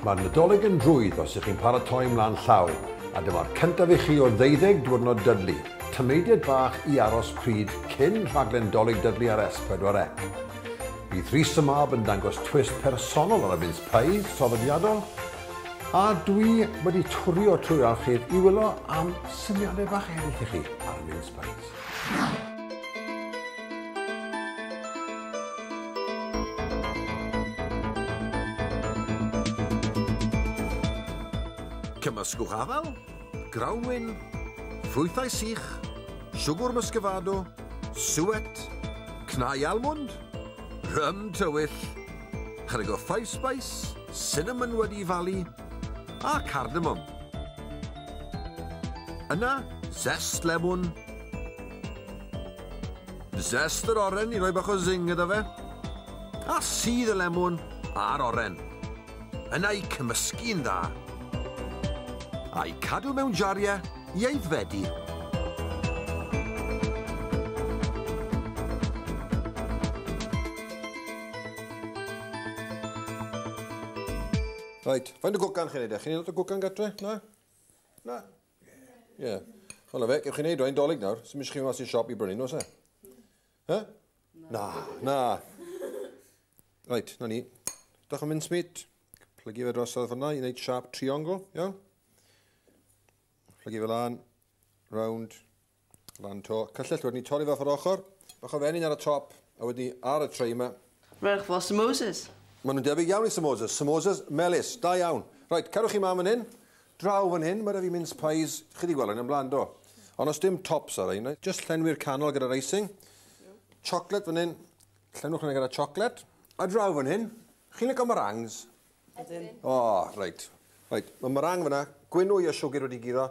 Mae'r Nadolig yn rhwydd os ych chi'n paratoi mlaen llaw, a dyma'r cyntaf i chi o'r ddeuddeg diwrnod Dudley, tameidiad bach i aros pryd cyn rhaglen Dolig Dudley ar S4C. Bydd Rhys y Mab yn dangos twist personol ar y mince pies traddodiadol, a dwi wedi twrio trwy'r archif i wylio am syniadau bach eraill i chi ar y mince pies. Cymysgwch afal, grawnwin, ffrwythau sych, siwgr muscovado, suet, cnau almwnd, rym tywyll, chydig o five spice, cinnamon wedi'i falu, a cardamom. Yna, zest lemwn. Zest yr oren i roi bach o zing iddo fe. A sydd y lemwn a'r oren. Yna i cymysgu'n dda. A'i cadw mewn jariau i aeddfedu. Right, faint o gwcan chi'n neud e? Chi'n neud lot o gwcan gatre? Na? Na? Ie. Yeah. Wel, fe, gef chi'n neud o'n dolyg nawr, sy'n mysio chi mas i'r siop i brynu, nos e? He? Na. Na. Right, na ni. Dach yn mynd smit. Plygu fe drosodd fyna i wneud sharp triongl, iawn? Plygu fe lan, round, O ran to, cyllell wedyn ni torri fe off yr ochr. Bach o fenyn ar y top, a wedyn ni ar y tray yma. Rhowch fo samosas. Maen nhw'n debyg iawn i samosas. Samosas melys, da iawn. Reit, cadwch chi mam yn hyn. Draw fan hyn, mae rhaid fi mince pies. Chi wedi gweld hyn yn blaen, do? Ond os dim tops ar ein, just llenwi'r canol gyda'r icing. Chocolate fan hyn. Llenwch hynny gyda chocolate. A draw fan hyn, chi'n lygo meringues? Ydyn. O, oh, reit. Reit, mae meringue fyna, gwynwy a siwgr wedi giro.